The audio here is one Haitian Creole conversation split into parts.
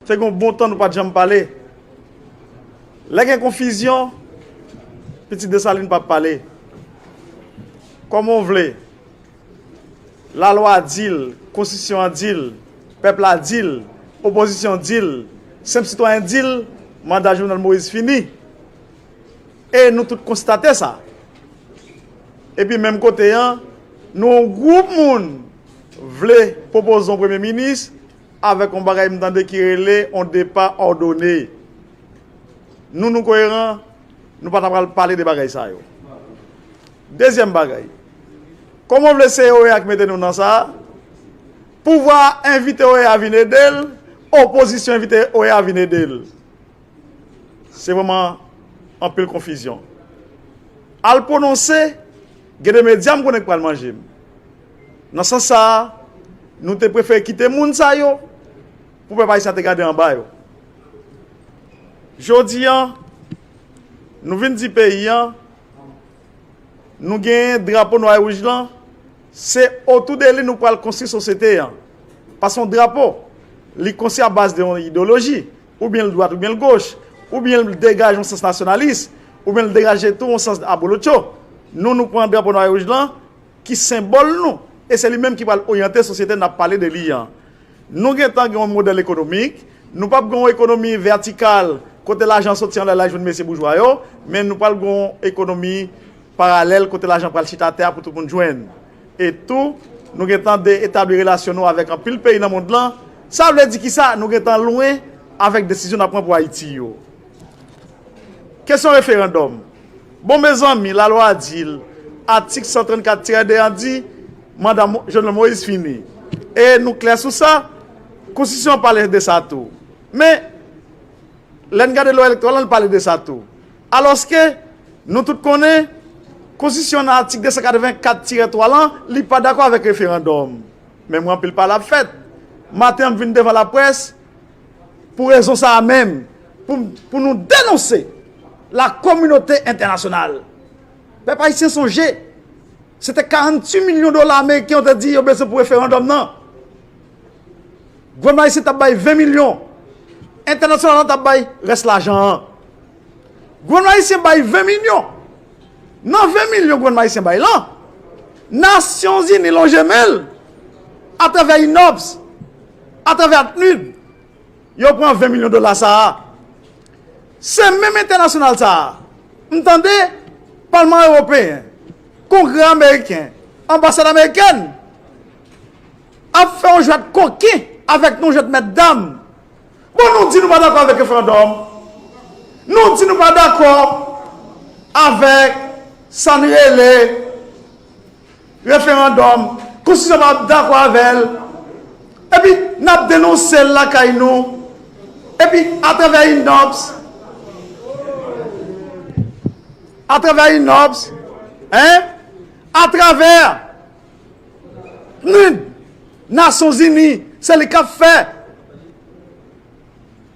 Fè gon bon tan nou pat janm pale Lè gen konfizyon Pitit Desalin pa pale Kòman w vle Lalwa di l Konstitisyon an di l Pèp la di l Opozisyon di l Senp sitwayen di l Manda Jovenel Moïse fini E nou tout konstate sa Epi menm kote an Nou on gwoup moun vle pwopoze on Premye Minis Avèk on bagay m tande ki rele on depa òdone. Nou nou koyeran, nou pa ta pral pale de bagay sa yo. Dezyèm bagay, kòman w vle se OEA ki mete nou nan sa a? Pouvwa a envite OEA vin ede l, opozisyon envite OEA vin ede l. Se vrèman anpil konfizyon. Al pwononse, gen de medya m konnen ki pral manje m. Nan sans sa a, nou te prefere kite moun sa yo pou pèp ayisyen an te gade anba yo. Jodi an, nou vin di peyi an, nou genyen drapo nwa e wouj lan, se otou de li nou pral konstwi sosyete an. Paske yon drapo, li konstwi a baz de yon idoloji, oubyen l dwat oubyen l goch, oubyen l degaje yon sans nasyonalis, oubyen l degaje tou yon sans abolotcho. Nou, nou pran drapo nwa e wouj lan, ki senbòl nou e se li menm ki pral oryante sosyete n ap pale de li an. Nou gentan gen yon modèl ekonomik, nou p ap gen yon ekonomi vètikal kote lajan soti anlè l al jwenn mesye boujwa yo, men nou pral gen yon ekonomi paralèl kote lajan pral chita atè a pou tout moun jwenn. E tou, nou gentan de etabli relasyon nou avèk anpil peyi nan mond lan. Sa vle di ki sa? Nou gentan lwen avèk desizyon n ap pran pou Ayiti yo. Kesyon referandòm. Bon mezanmi lalwa a di l atik 134 tirè 2 an di manda Jovenel Moïse fini e nou klè sou sa konstitisyon an pale de sa tou men lè n gade lwa elektoral lan li pale de sa tou alòske nou tout konnen konstitisyon an nan atik 284 tirè 3 lan li pa dakò avèk referandòm men mwen anpil pale ap fèt maten an m vin devan laprès Pou rezon sa a menm, pou nou denonse la kominote entènasyonal, pèp ayisyen sonje se te 48 milyon dola ameriken yo te di yo bezwen pou referandòm nan. Gouvènman ayisyen t ap bay 20 milyon, entènasyonal la t ap bay rès lajan an. Gouvenman Ayisyen bay 20 milyon. Nan 20 milyon gouvenman Ayisyen bay lan, Nasyon Zini lonje men l, atravè INOPS, atravè ACNUD, yo pran 20 milyon dola sa a. Se menm entènasyonal sa a, m tande Palman Ewopeyen, Kongrè Ameriken, Anbasad Amerikèn, ap fè yon jwèt koken avèk nou jwèt mèt dam. Bon nou di nou pa dakò avèk referandòm, nou di nou pa dakò avèk sa n rele referandòm, konstitisyon pa dakò avè l, epi n ap denonse l lakay nou, epi atravè Innops, atravè Innops, atravè. Nen Nasyon Zini se li kap fè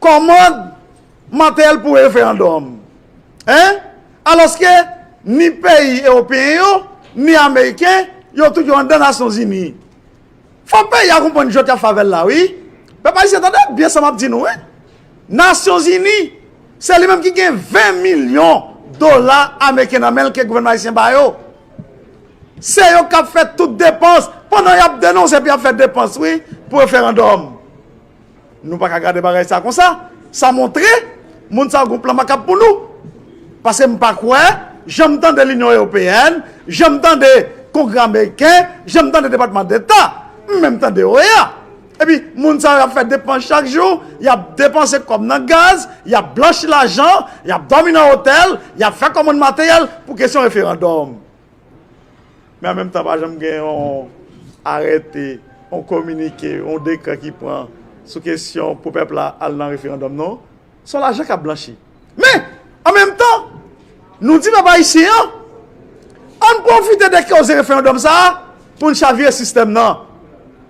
kòmand materyèl pou referandòm. Hein? Alòske ni peyi ewopeyen yo, ni ameriken, yo tout yo anndan Nasyon Zini. Fò peyi a konprann jwèt yap fè avèl la wi. Pèp ayisyen tande byen sa map di nou wi. Nasyon Zini se li menm ki gen 20 milyon dola ameriken nan menl ke gouvènman ayisyen ba yo. Se yo kap fè tout depans pandan yap denonse epi yap fè depans wi pou referandòm nou paka gade bagay sa konsa sa montre moun sa yo gon plan makab pou nou paske m pa kwè janm tande linyon eopeyèn janm tande kongrè ameriken janm tande depatman deta m menm tande oea epi moun sa yo yap fè depans chak jou yap depanse kòb nan gaz yap blanchi lajan yap dòmi nan otèl yap fè kòmand materyèl pou kesyon referandòm. Men an menm tan pa janm gen yon arète, yon kominike, yon dekrè ki pran sou kesyon pou pèp la al nan referandòm non. Se yon lajan k ap blanchi. Men, an menm tan, nou di pèp ayisyen an, an n pwofite de koze referandòm sa a pou n chavire sistèm nan.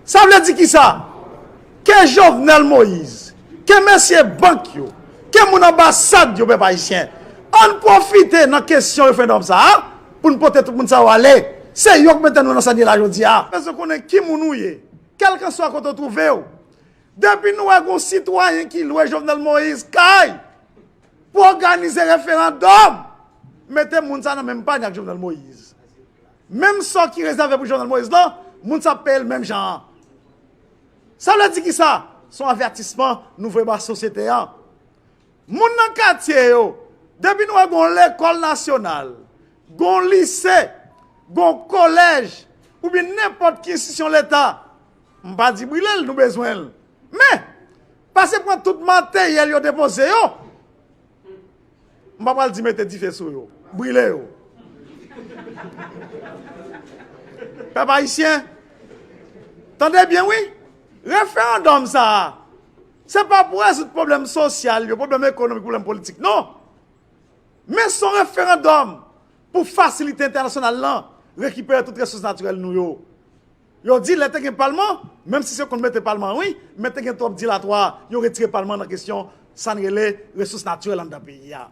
Sa vle di kisa? Ke Jovenel Moïse, Ke mesye bank yo, ke moun anbasad yo pèp ayisyen, ann pwofite nan kesyon referendum sa a pou n pote tout moun sa yo ale. Se yo k mete nou nan sa n ye la jodi a. Mwen bezwen konnen ki moun ou ye, kèlkanswa kote w twouve w. Depi nou wè gen yon sitwayen ki lwe Jovenel Moïse kay pou òganize referandòm, mete moun sa a nan menm pany ak Jovenel Moïse. Menm sò ki rezève pou Jovenel Moïse lan, moun sa a ap peye l menm jan an. Sa vle di kisa? Se yon avètisman nou voye ba sosyete an. Moun nan katye yo, depi nou wè gon lekòl nasyonal, gon lise, gon kolèj, oubyen nenpòt ki enstisyon leta, m pa di brile l, nou bezwen l. Men, pase pran tout materyèl yo depoze yo, M pa pral di mete dife sou yo. Brile yo. Pèp Ayisyen, tande byen wi! Referandòm sa a, se pa pou rezoud pwoblèm sosyal yo, pwoblèm ekonomik, pwoblèm politik non! Men son referandòm pou fasilite entènasyonal lan rekipere tout resous natirèl nou yo. Yo di lè te gen palman, menm si se konn mete palman an wi, men te gen twòp dilatwa, yo retire palman nan kesyon sa n rele resous natirèl anndan peyi a.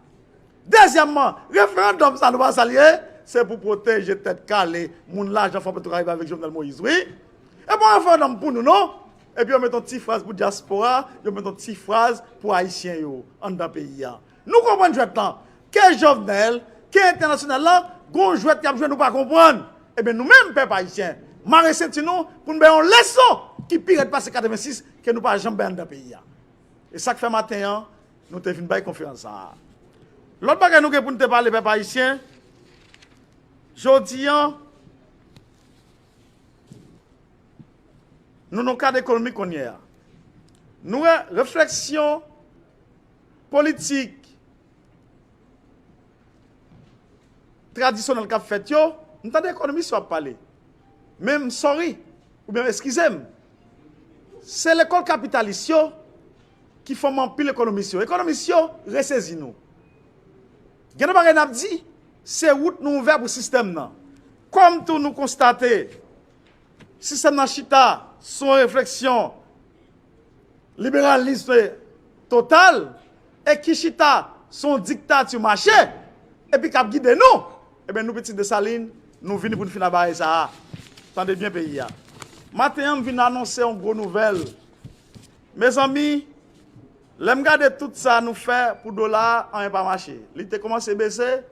Dezyèmman, referandòm sa nou pa sa l ye? Se pou pwoteje tèt kale moun lajan fò petrokaribe avèk Jovenel Moïse wi. E pa yon referandòm pou nou non. Epi yo met yon ti fraz pou dyaspora, yo met yon ti fraz pou ayisyen yo anndan peyi a. Nou konprann jwèt lan, ke Jovenel, ke entènasyonal lan, gon jwèt y ap jwe nou pa konprann. Ebyen nou menm pèp ayisyen, mare senti nou pou nou bay yon leson ki pi rèd pase 86 ke nou pa janm bay anndan peyi a. E sa k fè maten an nou te vin bay konferans sa a. Lòt bagay nou gen pou nou te pale pèp ayisyen, jodi an, nou nan yon kad ekonomik kounyè a. Nou wè refleksyon. politik tradisyonèl k ap fèt yo, m tande ekonomis yo ap pale, men m sòri oubyen eskize m, se lekòl kapitalis yo ki fòme anpil ekonomis yo. Ekonomis yo, resezi nou. Gen de bagay n ap di, se wout nou ouvè pou sistèm nan. Kòm tou nou konstate sistèm nan chita sou yon refleksyon, liberalisme total e ki chita sou yon diktati mache epi kap gide nou ebyen nou pitit Desalin nou vini poun fini a bagay sa a tande byen peyi a maten an m vin anonse yon gwo nouvèl mezanmi lèm gade tout sa nou fè pou dola a anyen pa mache li te kòmanse bese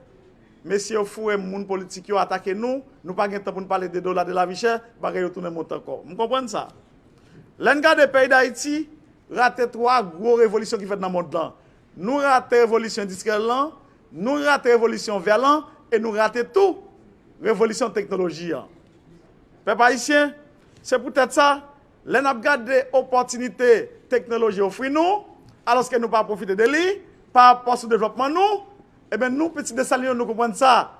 mesye yo foure m moun politik yo atake nou nou pa gen tan poun pale de dola de lavichè bagay yo tounen monte ankò m konprann sa. Lè n gade peyi Dayiti rate 3 gwo revolisyon ki fèt nan mond lan. Nou rate revolisyon endistriyèl lan, nou rate revolisyon vè lan e nou rate tou revolisyon teknoloji an. Pèp ayisyen, se pou tèt sa, lè n ap gade opòtinite teknoloji ofri nou, alòske nou pa pwofite de li, pa rapò sou devlòpman nou, eben nou pitit Desalin yo nou konprann sa.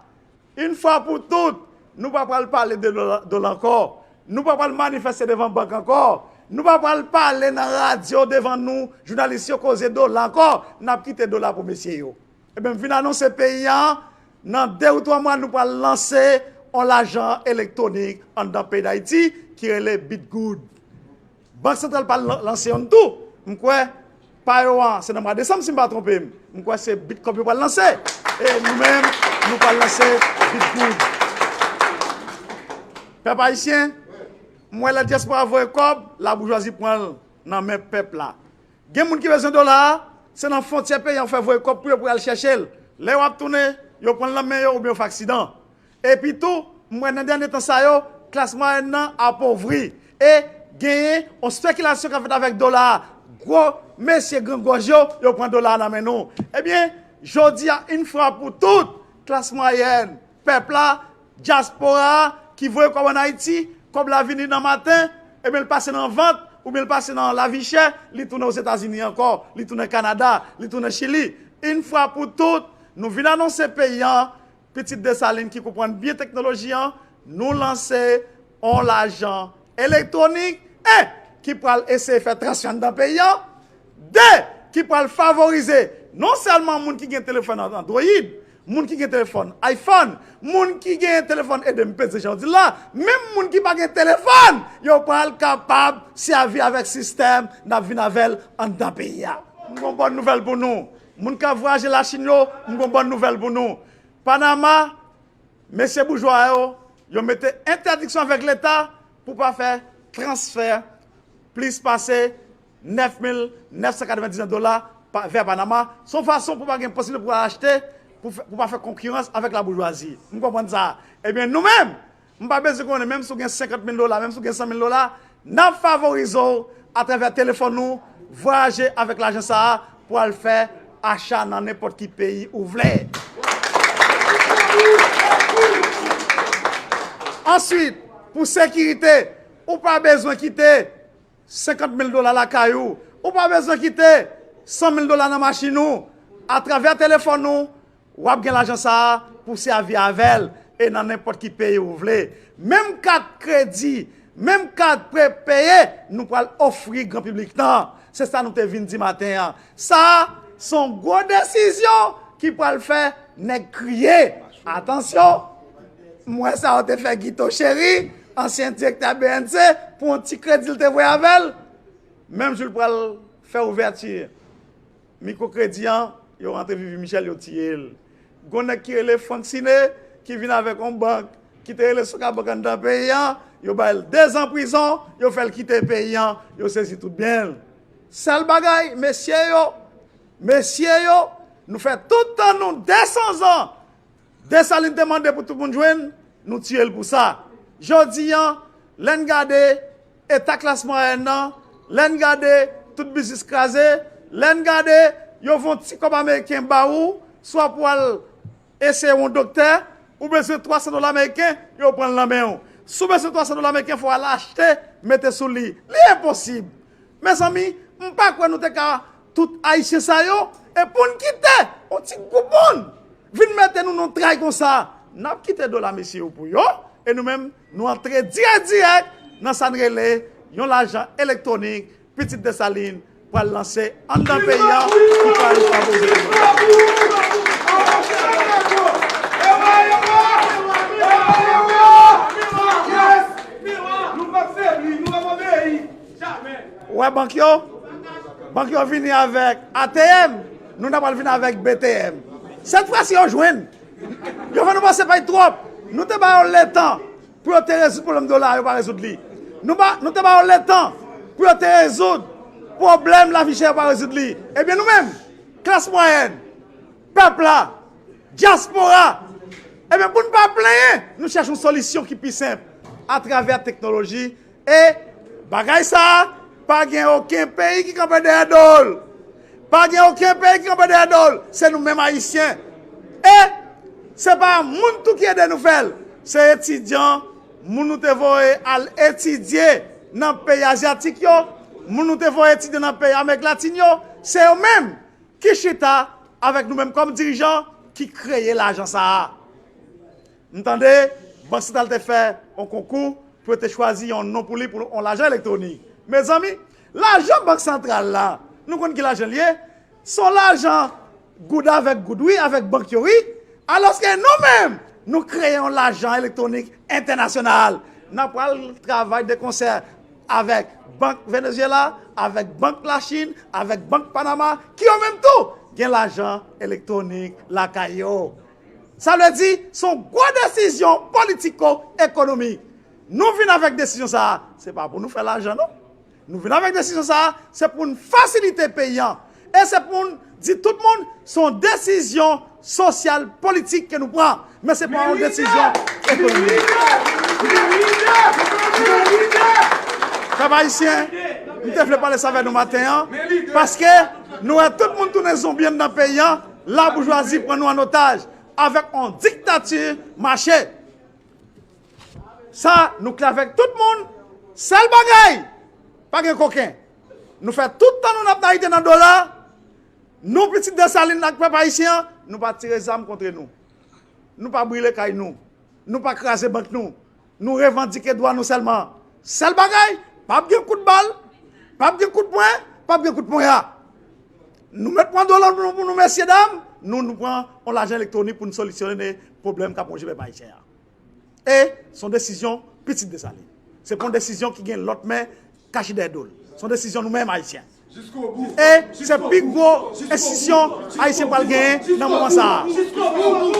Yn fwa pou tout, nou pa pral pale de dola ankò, nou pa pral manifeste devan bank ankò, nou pa pral pale nan radyo devan nou jounalis yo koze dola ankò, nap kite dola pou mesye yo. Ebyen m vin anonse peyi an, nan 2 ou 3 mwa nou pral lanse on lajan elektwonik anndan peyi Dayiti ki rele Bitgoud. Bank santral pa lanse yonn tou, m kwè pa yo an se nan mwa desanm si m pa twonpe m, m kwè se Bitcorp yo pral lanse e nou menm nou pral lanse Bitgoud. Pèp ayisyen, m wè lè dyaspora voye kòb, laboujwazi pran l nan men pèp la. Gen moun ki bezwen dola a, se nan fontyè peyi an yo fè voye kòb pou yo pou y al chèche l. Lè yo ap tounen, yo pran l nan men yo oubyen yo fè aksidan. Epi tou, m wè nan dènye tan sa yo, klas mwayèn nan apovri. E, genyen yon spekilasyon k ap fèt avèk dola a. Gwo mesye grangòj yo, yo pran dola a nan men nou. Ebyen, jodi a, yn fwa pou tout, klas mwayèn, pèp la, dyaspora a, ki voye kòb ann Ayiti, kòb la vini nan maten, ebyen l pase nan vant, oubyen l pase nan lavichè, li tounen Ozetazini ankò, li tounen Kanada, li tounen Chili. Yn fwa pou tout, nou vin anonse peyi an, Pitit Desalin ki konprann byen teknoloji an, nou lanse on lajan elektwonik, 1 ki pral eseye fè transfè anndan peyi an, 2 ki pral favorize non sèlman moun ki gen telefòn androyid, moun ki gen telefòn ayfòn, moun ki gen telefòn ede m peze jan w di l la, menm moun ki pa gen telefòn, yo pral kapab sèvi avèk sistèm n ap vin avè l anndan peyi a. M gen on bòn nouvèl pou nou, Moun kap vwayaje la chine yo m gon bòn nouvèl pou nou panama mesye boujwa yo yo mete entèdiksyon avèk leta pou pa fè transfè plis pase 9999 dola vè panama son fason pou pa gen posiblite pou achte pou pa fè konkirans avèk la boujwazi m konprann sa ebyen nou menm M pa bezwen konnen menm si w gen 50 mil dola, menm si w gen 100 mil dola, n ap favorize w atravè telefòn nou vwayaje avèk lajan sa a pou al fè acha nan nenpòt ki peyi ou vle. Answit, pou sekirite, ou pa bezwen kite 50 mil dola lakay ou, ou pa bezwen kite 100 mil dola nan machin ou, atravè telefòn nou, W ap gen lajan sa a pou w sèvi avè l e nan nenpòt ki peyi ou vle. Menm kat kredi, menm kat prepeye nou pral ofri gran piblik nan, se sa nou te vin di maten an. Sa a se yon gwo desizyon ki pral fè nèg kriye. Atansyon, m wè sa yo te fè Guito Chéry, ansyen direktè bnc, pou yon ti kredi l te voye avè l, menm jou l pral fè ouvèti. Micro kredi an yo rantre vivi michel yo tiyel gon nèg ki rele Franck cine ki vin avèk yon bank ki te rele soka bank anndan peyi an yo bayl 2 zan prizon yo fèl kite peyi an yo sezi tout byenl sèl bagay mesye yo mesye yo nou fè tout tan nou 200 zan Dessalines te mande pou tout moun jwenn nou tiyel pou sa jodi an lèn gade Eta klas mwayèn nan, lè n gade, tout biznis kraze, lè n gade, yo von ti kòb ameriken ba ou, swa pou al eseye w on doktè, ou bezwen 300 dola meriken, yo pran l nan men w. Si w bezwen 300 dola meriken, fò w al achte, mete sou li. Li enposib! Mezanmi, m pa kwè nou te ka tout Ayisyen sa yo, e pou n kite on ti gwoup moun vin mete nou nan tray konsa. N ap kite dola mesye yo pou yo, e nou menm, Nou antre dirèk dirèk nan sa n rele yon lajan elektwonik pitit Desalin pral lanse anndan peyi an ki pral favorize demografi. Ou wè bank yo? Bank yo vini avèk ATM, nou ta pral vini avèk BTM. Sèt fwa si yo jwenn! Yo fè nou pase pay twòp. Nou te ba yo letan pou yo te rezoud pwoblèm dola a, yo pa rezoud li. Nou te ba yo letan pou yo te rezoud pwoblèm lavi chè, yo pa rezoud li. Ebyen nou menm, klas mwayèn, pèp la, dyaspora, ebyen pou n pa plenyen, nou chèche yon solisyon ki pi senp atravè teknoloji, E bagay sa a, pa gen oken peyi ki kanpe dèyè do l. Pa gen oken peyi ki kanpe dèyè do l. Se nou menm Ayisyen. E se pa moun tou ki ede nou fè l. Se etidyan, moun nou te voye al etidye nan peyi azyatik yo, moun nou te voye etidye nan peyi Amerik Latin yo, se yo menm ki chita avèk nou menm kòm dirijan ki kreye lajan sa a. M tande Bank Santral te fè on konkou pou yo te chwazi yon non pou li pou on lajan elektwonik. Mezanmi, lajan Bank Santral la, nou konn ki lajan l ye, s on lajan goud avèk goud wi, avèk bank yo wi. Alòske nou menm, nou kreye yon lajan elektwonik entènasyonal. N ap pral travay de konsè avèk Bank Venezyela, avèk Bank Lachin, avèk Bank Panama ki yo menm tou gen lajan elektwonik lakay yo. Sa vle di, se yon gwo desizyon politiko ekonomik. Nou vin avèk desizyon sa a, se pa pou nou fè lajan non. Nou vin avèk desizyon sa a, se pou n fasilite peyi an. E se pou n di tout moun, se yon desizyon sosyal politik ke nou pran. Men se pa yon desizyon ekonomik. Pèp ayisyen, m te vle pale sa avè nou maten an, paske nou wè tout moun tounen zonbi anndan peyi an. La boujwazi pran nou an otaj avèk yon diktati mache. Sa nou klè avèk tout moun, sèl bagay, pa gen koken. Nou fè tout tan nou n ap nayite nan dola, nou pitit Desalin ak pèp ayisyen an, nou pa tire zam kontre nou. Nou pa brile kay nou. Nou pa kraze bank nou. Nou revandike dwa nou sèlman. Sèl bagay, pa ap gen kout bal, pa ap gen kout pwen, pa ap gen kout ponya. Nou mèt pran dola nou pou nou mesye dam, nou nou pran yon lajan elektwonik pou nou solisyone pwoblèm kap wonje pèp ayisyen an. E, se yon desizyon pitit Desalin. Se pa yon desizyon ki gen lòt men kache dèyè do l. Se yon desizyon nou menm ayisyen. E, se pi gwo enstitisyon ayisyen pral genyen nan moman sa a.